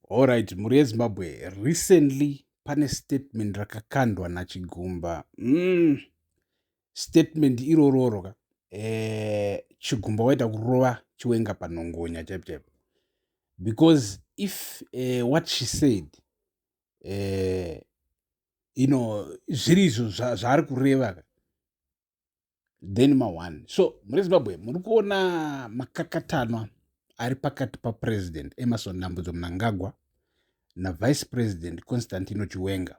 Horaiti, mhuri yeZimbabwe recently pane statement rakakandwa naChigumba. Mm. Statement irororo ka. Eh, Chigumba waita kurova chiwenga panhongonya chaipo chaipo. Because if uh, what she said uh, you know zviri izvo zvaari kureva ka then maone so muri zimbabwe muri kuona makakatanwa ari pakati papresident emerson nambudzo munangagwa navice president constantino chiwenga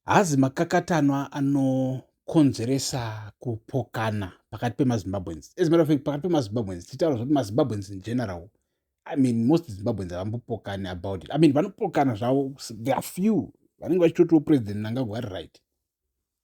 hazi makakatanwa anokonzeresa kupokana pakati pemazimbabweans as matter of fact pakati pemazimbabweans tichitaura zvekuti mazimbabweans in general i mean most zimbabweans havambopokani about it i mean vanopokana zvavo there are few vanenge vachitotiwo president nangagwa ari right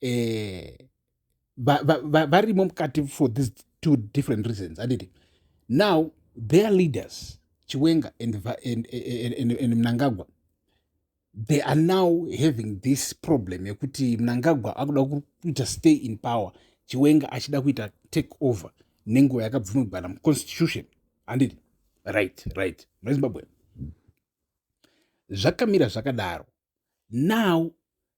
eh, varimo mukati for these two different reasons anditi now their leaders chiwenga and, and, and, and, and mnangagwa they are now having this problem yekuti mnangagwa akuda kuita stay in power chiwenga achida kuita take over nenguva yakabvumidzana muconstitution anditi right right munezimbabwe zvakamira zvakadaro now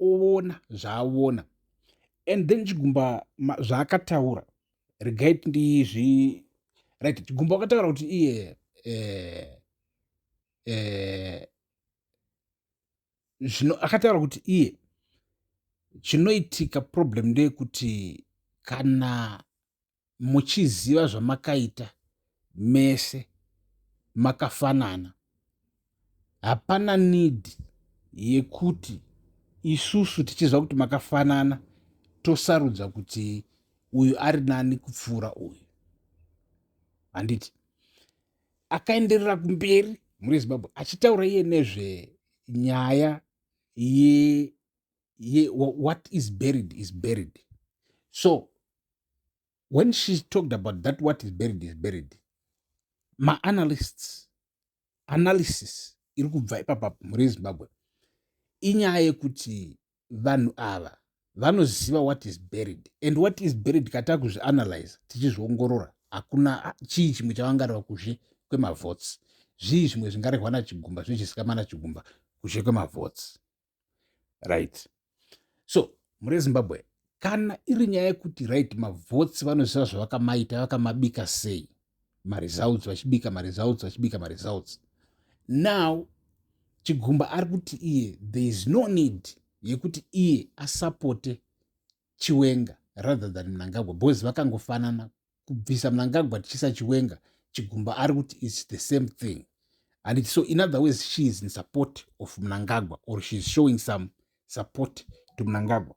oona zvaaona and then chigumba zvaakataura regai tindizvi right chigumba wakataura kuti iye eh, eh, zvino akataura kuti iye chinoitika problem ndeyekuti kana muchiziva zvamakaita mese makafanana hapana need yekuti isusu tichiziva kuti makafanana tosarudza kuti uyu ari nani kupfuura uyu handiti akaenderera kumberi muri zimbabwe achitaura iye nezvenyaya ye ye, what is buried is buried so when she talked about that what is buried is buried maanalysts analysis iri kubva ipapa mhuri yezimbabwe inyaya yekuti vanhu ava vanoziva what is buried and what is buried kataa kuzvianalyze tichizviongorora hakuna chii chimwe chavangareva kuzhe kwemavots zvii zvimwe zvingarehwa nachigumba zvichisika manachigumba kuzhe kwemavots right so mhuri yezimbabwe kana iri nyaya yekuti right mavhotsi vanoziva zvavakamaita vakamabika sei maresults vachibika maresults vachibika maresults now chigumba ari kuti iye there is no need yekuti iye asapote chiwenga rather than mnangagwa because vakangofanana kubvisa mnangagwa tichisa chiwenga chigumba ari kuti its the same thing and its so in other ways she is in support of mnangagwa or she is showing some support to mnangagwa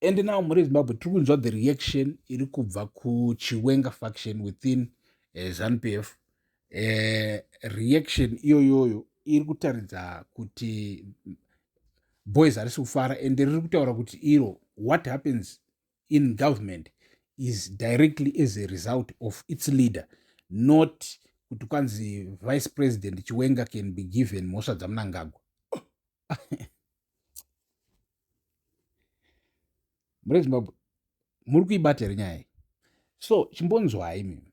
and now muri zimbabwe tiri kunzwa the reaction iri kubva kuchiwenga faction within uh, eh, zanupf uh, eh, reaction iyoyoyo iri kutaridza kuti boys harisi kufara and riri kutaura kuti iro what happens in government is directly as a result of its leader not kuti kwanzi vice president chiwenga can be given mhosva dzamunangagwa muri zimbabwe muri kuibata here nyaya iyi so chimbonzwai mi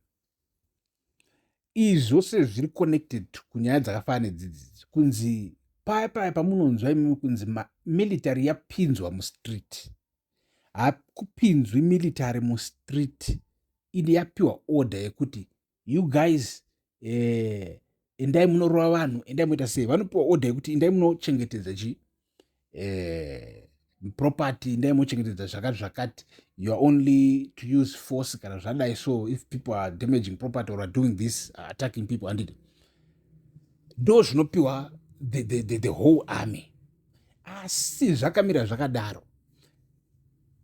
izvi zvose zviri connected kunyaya dzakafana nedzidzidzi kunzi paya paya pamunonzwa imimi kunzi military yapinzwa mustreet hakupinzwi military mustreet ini yapiwa order yekuti you guys eh, endai munorova vanhu endai muita sei vanopiwa order yekuti endai munochengetedza chi eh, property endai mochengetedza zvakati zvakati you are only to use force kana zvadai so if people are damaging property or are doing this uh, attacking people andidi ndo zvinopiwa the, the, the, the whole army asi zvakamira zvakadaro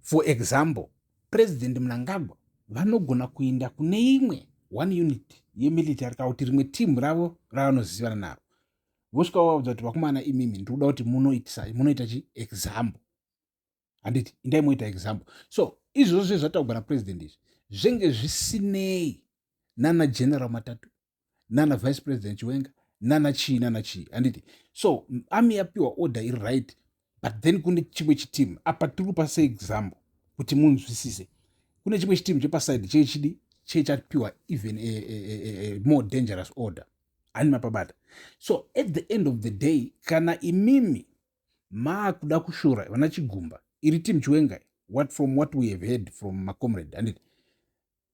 for example president mnangagwa vanogona kuenda kune imwe one unit yemilitary kana kuti rimwe timu ravo ravanozivana naro vosvika vavaudza kuti vakumana imimi ndikuda kuti munoitisai munoita chi example handiti indai moita example so izvozvo zve zvataugwa napresident izvi zvenge zvisinei nana general matatu nana vice president chiwenga nana chii nana chii handiti so ami yapiwa order iri right but then kune chimwe chitimu apa tiri kupa seexample kuti munzwisise kune chimwe chitimu chepasaidi chee chidi chee chapiwa even a, a, a, a more dangerous order ani mapabata so at the end of the day kana imimi maakuda kushora vana chigumba iri team chiwengai what from what we have heard from macomrade handiti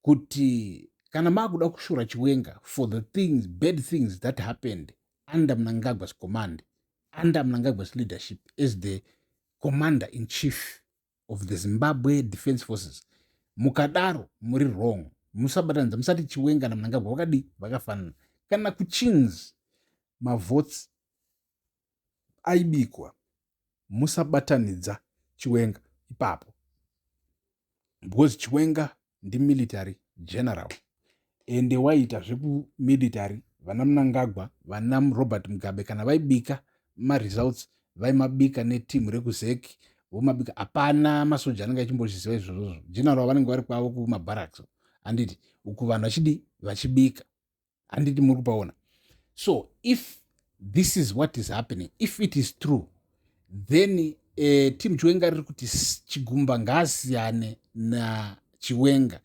kuti kana maakuda kushora chiwenga for the things bad things that happened under mnangagwa's command under mnangagwa's leadership as the commander in chief of the zimbabwe defense forces mukadaro muri wrong musabatanidza musati chiwenga namnangagwa vakadii vakafanana kana kuchins mavotes aibikwa musabatanidza chiwenga ipapo because chiwenga ndimilitary general ende waiita zvekumilitary vana munangagwa vana robert mugabe kana vaibika maresults vaimabika neteam rekuzek vomabika hapana masoja anenge achimbozviziva izvozvozvo general vanenge vari kwavo kumabaraks anditi uku vanhu vachidi vachibika handiti muri kupaona so if this is what is happening if it is true then uh, eh, tim chiwenga riri kuti chigumba ngaasiyane nachiwenga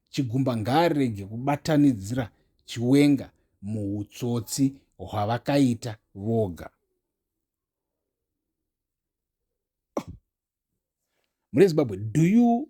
chigumba ngaarege kubatanidzira chiwenga muutsotsi hwavakaita voga mune zimbabwe do you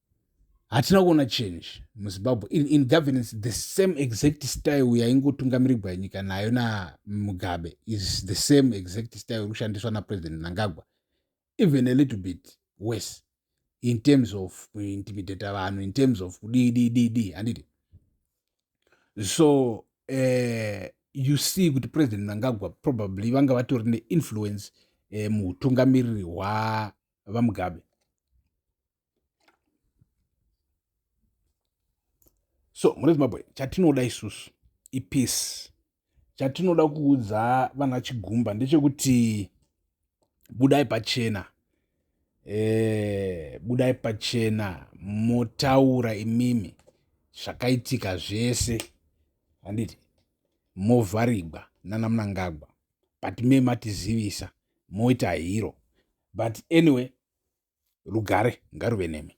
hatina kuona change muzimbabwe in, in governance the same exact style yaingotungamirigwa nyika nayo namugabe is the same exact style iri kushandiswa napresident nangagwa even a little bit worse in terms of kuintimidata vanhu in terms of kudii dii dii dii handiti so uh, you see kuti president mnangagwa probably vanga vatori neinfluence uh, eh, muutungamiriri hwavamugabe so mune zimbabwe chatinoda isusu ipeace chatinoda kuudza vana chigumba ndechekuti budai pachena e, budai pachena motaura imimi zvakaitika zvese handiti movharigwa nana munangagwa but me matizivisa moita hero but anyway rugare ngaruve nemi